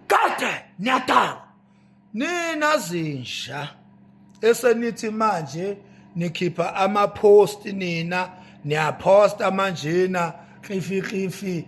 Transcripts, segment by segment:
kade niyadakwa nina zinja esenithi manje nikhipha ama-post nina niyaphosta manjena xifi xifi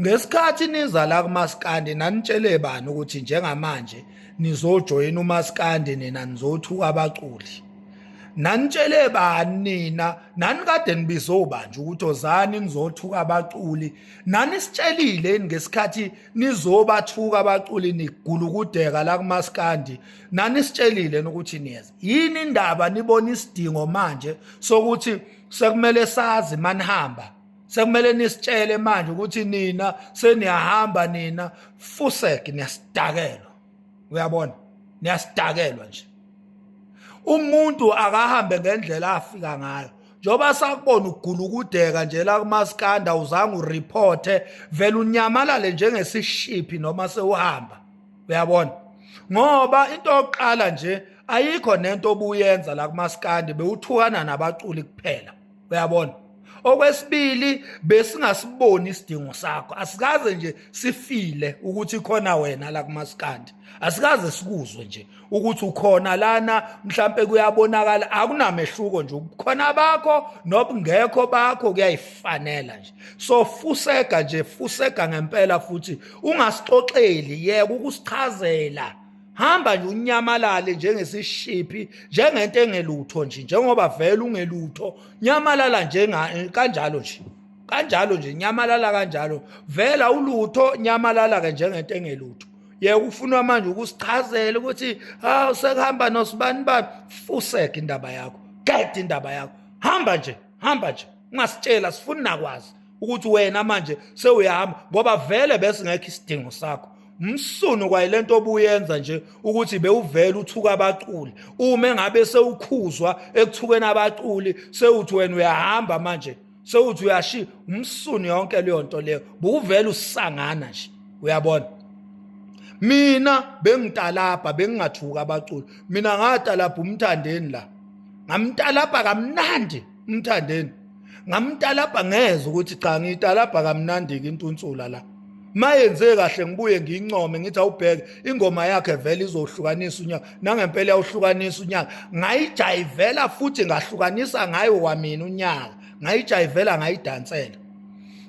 Ngesikhathi niza la kumaskandi nanitshele bani ukuthi njengamanje nizojoyina umaskandi nina nizothuka abaculi. Nanitshele bani nina nanikade nibize obanje ukuthi ozani nizothuka abaculi. Nanisitshelile ngesikhathi nizobathuka abaculi nigulukudeka la kumaskandi. Nanisitshelile ukuthi niyeza. Yini indaba nibona isidingo manje sokuthi sekumele sazi manihamba sekumele nisitshele manje ukuthi nina seniyahamba nina fusek niyasidakelwa uyabona niyasidakelwa nje umuntu akahambe ngendlela afika ngayo njengoba sakubona ugula ukudeka nje la kumaskanda uzange ureporte vele unyamalale njengesishiphi noma sewuhamba uyabona ngoba into yokuqala nje ayikho nento obuyenza la kumaskandi bewuthukana nabaculi kuphela uyabona okwesibili besingasiboni isidingo sakho asikaze nje sifile ukuthi khona wena la kumaskandi asikaze sikuzwe nje ukuthi ukhona lana mhlambe kuyabonakala akunamehluko nje ubukhona bakho nobungekho bakho kuyayifanela nje so fusega nje fusega ngempela futhi ungasixoxeli yeke ukusichazela hamba nje unyamalale njengesishiphi njengento engelutho nje njengoba vele ungelutho nyamalala nje kanjalo nje kanjalo nje nyamalala kanjalo vela ulutho nyamalala ke njengento engelutho yeka ufunwa manje ukusichazela ukuthi hawu sekuhamba nosibani bani fuseke indaba yakho gede indaba yakho hamba nje hamba nje ungasitshela sifuni nakwazi ukuthi wena manje sewuyahamba ngoba vele bese ngekho isidingo sakho umsunu kwayile nto obuyenza nje ukuthi bewuvele uthuka abaculi uma engabe sewukhuzwa ekuthukeni abaculi sewuthi wena uyahamba manje sewuthi uyashi umsunu yonke leyo nto leyo buwuvele usangana nje uyabona mina bengitalabha bengingathuka abaculi mina ngatalabha umthandeni la ngamtalabha kamnandi umthandeni ngamtalabha ngeze ukuthi cha ngiyitalabha kamnandi ke intunsula la mayenze kahle ngibuye ngiyincome ngithi awubheke ingoma yakhe vele izohlukanisa unyaka nangempela yawuhlukanisa unyaka ngayijayivela futhi ngahlukanisa ngayo wamina unyaka ngayijayivela ngayidansela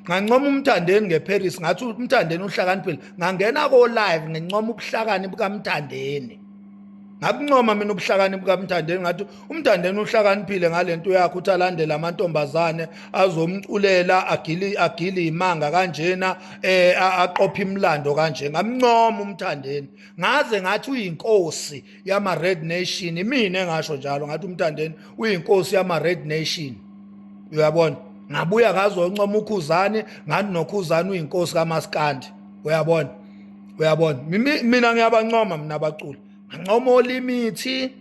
ngancoma umthandeni ngeParis ngathi umthandeni uhlakaniphile ngangena ko live ngincoma ubuhlakani bukamthandeni ngakuncoma mina ubuhlakani bukamthandeni ngathi umthandeni uhlakaniphile ngale nto yakhe ukuthi alandele amantombazane azomculela agili agili imanga kanjena eh aqopha imlando kanje ngamncoma umthandeni ngaze ngathi uyinkosi yama red nation mina engasho njalo ngathi umthandeni uyinkosi yama red nation uyabona ngabuya ngazoncoma ukhuzani ngathi nokhuzani uyinkosi kamaskandi uyabona uyabona mina ngiyabancoma mina abaculi ngancoma olimithi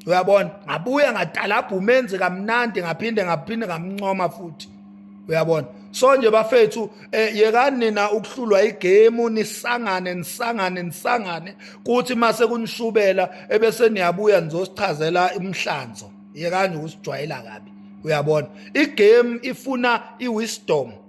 uyabona ngabuya ngadalabha umenzi kamnandi ngaphinde ngaphinde ngamncoma futhi uyabona so nje bafethu eh, yekani nina ukuhlulwa igemu nisangane nisangane nisangane kuthi mase kunishubela ebese niyabuya nizosichazela imhlanzo yekani ukusijwayela kabi uyabona igame ifuna iwisdom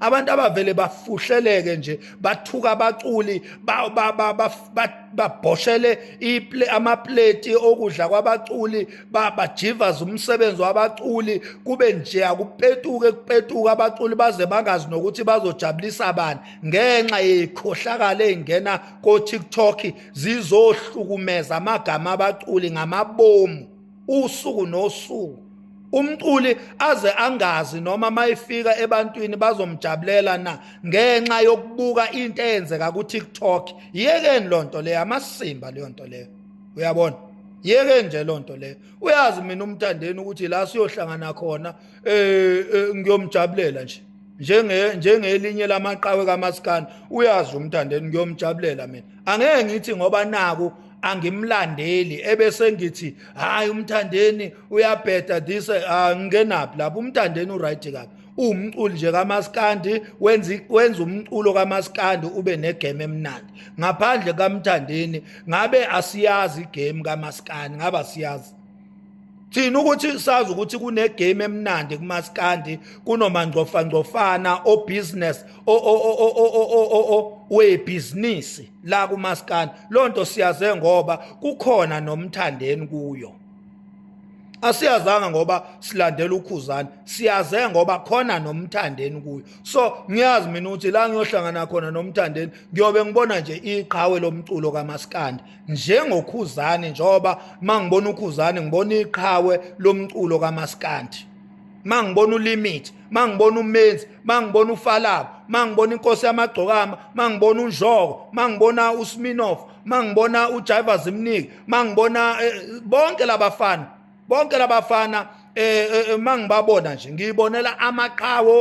abantu abavele bafuhleleke nje bathuka abaculi babhoshele amapleti okudla kwabaculi bajivaza umsebenzi wabaculi kube nje akupetuke kupetuka abaculi baze bangazi nokuthi bazojabulisa bani ngenxa yeyikhohlakala eyingena ko-tiktok zizohlukumeza amagama abaculi ngamabomu usuku nosuku umculi aze angazi noma mayifika ebantwini bazomjabulela na ngenxa yokubuka into eyenzeka ku TikTok yekeni lonto leyo amasimba leyo nto leyo uyabona yeke nje lonto leyo uyazi mina umthandeni ukuthi la siyohlangana khona eh, eh ngiyomjabulela nje njenge njengelinye lamaqawe kamaskani uyazi umthandeni ngiyomjabulela mina angeke ngithi ngoba naku angimlandeli ebese ngithi hayi umthandeni uyabheda this ah, ngingenaphi lapho umthandeni uright kabi uwumculi nje kamaskandi wenza wenza umculo kamaskandi ube negame emnandi ngaphandle kamthandeni ngabe asiyazi igame kamaskandi ngaba siyazi Thina ukuthi sazi ukuthi kune game emnandi kumaskandi kunomangcofa ngcofana o business o o o o o o we business la kumaskandi lonto siyaze ngoba kukhona nomthandeni kuyo asiyazanga ngoba silandela ukhuzana siyaze ngoba khona nomthandeni kuyo so ngiyazi mina ukuthi la ngiyohlangana khona nomthandeni ngiyobe ngibona nje iqhawe lomculo kamaskandi njengokhuzani njengoba mangibona ukhuzani ngibona iqhawe lomculo kamaskandi mangibona ulimit mangibona umenzi mangibona ufalabo mangibona inkosi yamagcokama mangibona unjoko mangibona usminof mangibona ujiva zimnike mangibona eh, bonke labafana bonke labafana eh, eh, eh mangibabona nje ngiyibonela amaqhawe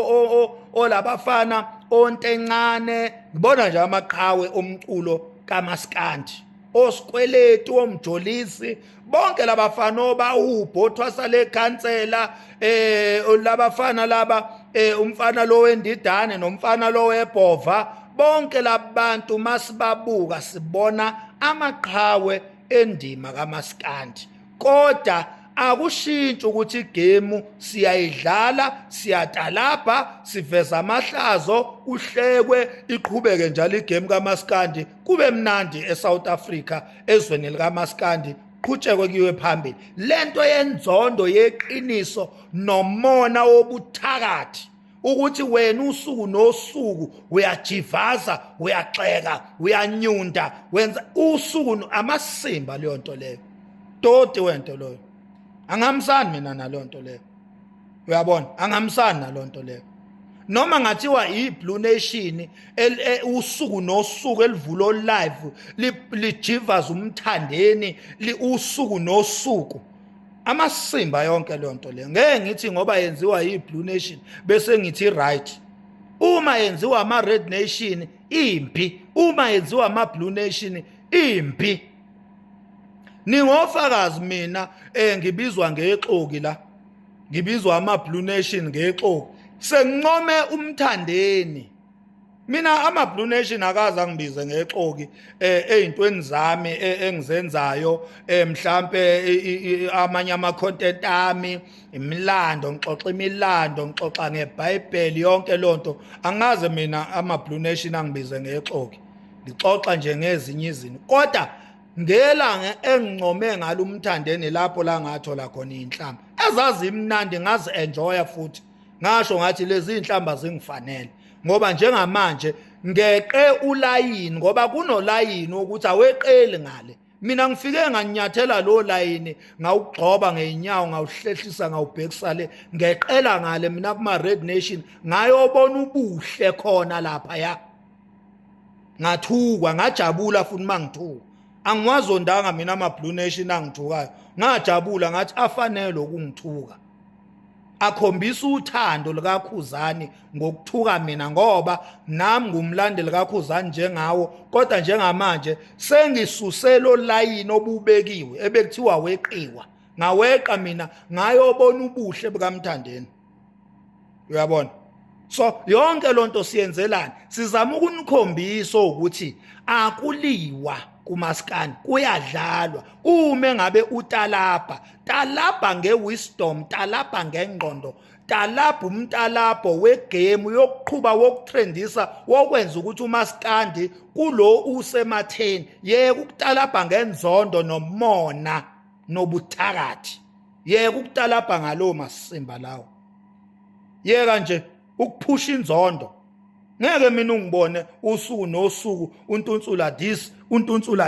olabafana ontencane ngibona nje amaqhawe omculo kamaskandi osikweletu omjolisi bonke labafana obawubhothwasa lekhansela eh labafana laba eh umfana lo wendidane nomfana lo webhova bonke labantu masibabuka sibona amaqhawe endima kamaskandi kodwa akushintshi ukuthi igemu siyayidlala siyatalabha siveza amahlazo kuhlekwe iqhubeke njalo igemu kamaskandi kube mnandi eSouth Africa ezweni likamaskandi qhutshekwe kuyiwe phambili lento yenzondo yeqiniso nomona wobuthakathi ukuthi wena usuku nosuku uyajivaza uyaxeka uyanyunda wenza usuku amasimba leyo nto leyo toti wento loyo angamsani mina naleyo nto leyo uyabona angamsani naleyo nto leyo noma ngathiwa iblue nation e, usuku nosuku elivulo live lijivaza umthandeni usuku nosuku amasimba yonke leyo nto leyo ngeke ngithi ngoba yenziwa yi-blue nation bese ngithi right uma yenziwa ama-red nation impi uma yenziwa ama-blue nation impi ningofakazi mina um ngibizwa ngexoki la ngibizwa ama-blue nation ngexoki sengincome umthandeni mina ama blue nation akaze angibize ngexoki eh, ezintweni zami eh, engizenzayo eh, mhlambe amanye ama content ami imilando ngixoxa imilando ngixoxa ngeBhayibheli yonke lonto angaze mina ama blue nation angibize ngexoki ngixoxa nje ngezinye izinto kodwa ngelanga engincome ngalo umthandeni lapho la ngathola khona inhlamba ezazi imnandi ngazi enjoya futhi ngasho ngathi lezi inhlamba zingifanele ngoba njengamanje ngeqe ulayini ngoba kunolayini ukuthi aweqeli ngale mina ngifike nganyathela lo layini ngawugxoba ngeenyawo ngawuhlehlisa ngawubhekisa le ngeqela ngale mina kuma red nation ngayobona ubuhle khona lapha ya ngathukwa ngajabula futhi mangithuka angiwazondanga mina ama blue nation angithukayo ngajabula ngathi afanele ukungithuka akhombisa uthando likaKhuzani ngokuthuka mina ngoba nami ngumlandeli kaKhuzani njengawo kodwa njengamanje sengisuselo layini obubekiwe ebekuthiwa weqiwa ngaweqa mina ngayobona ubuhle bukaMthandeni uyabona so yonke lonto siyenzelani sizama ukunikhombisa ukuthi akuliwa kumaskani kuyadlalwa uma ngabe utalabha talabha ngewisdom talabha ngengqondo talabha umtalabho wegemu yokuqhuba wokutrendisa wokwenza ukuthi umaskandi kulo usematheni yeke ukutalabha ngenzondo nomona nobuthakathi yeke ukutalabha ngalowo masimba lawo yeka nje ukuphusha inzondo ngeke mina ungibone usuku nosuku untunsula this untunsula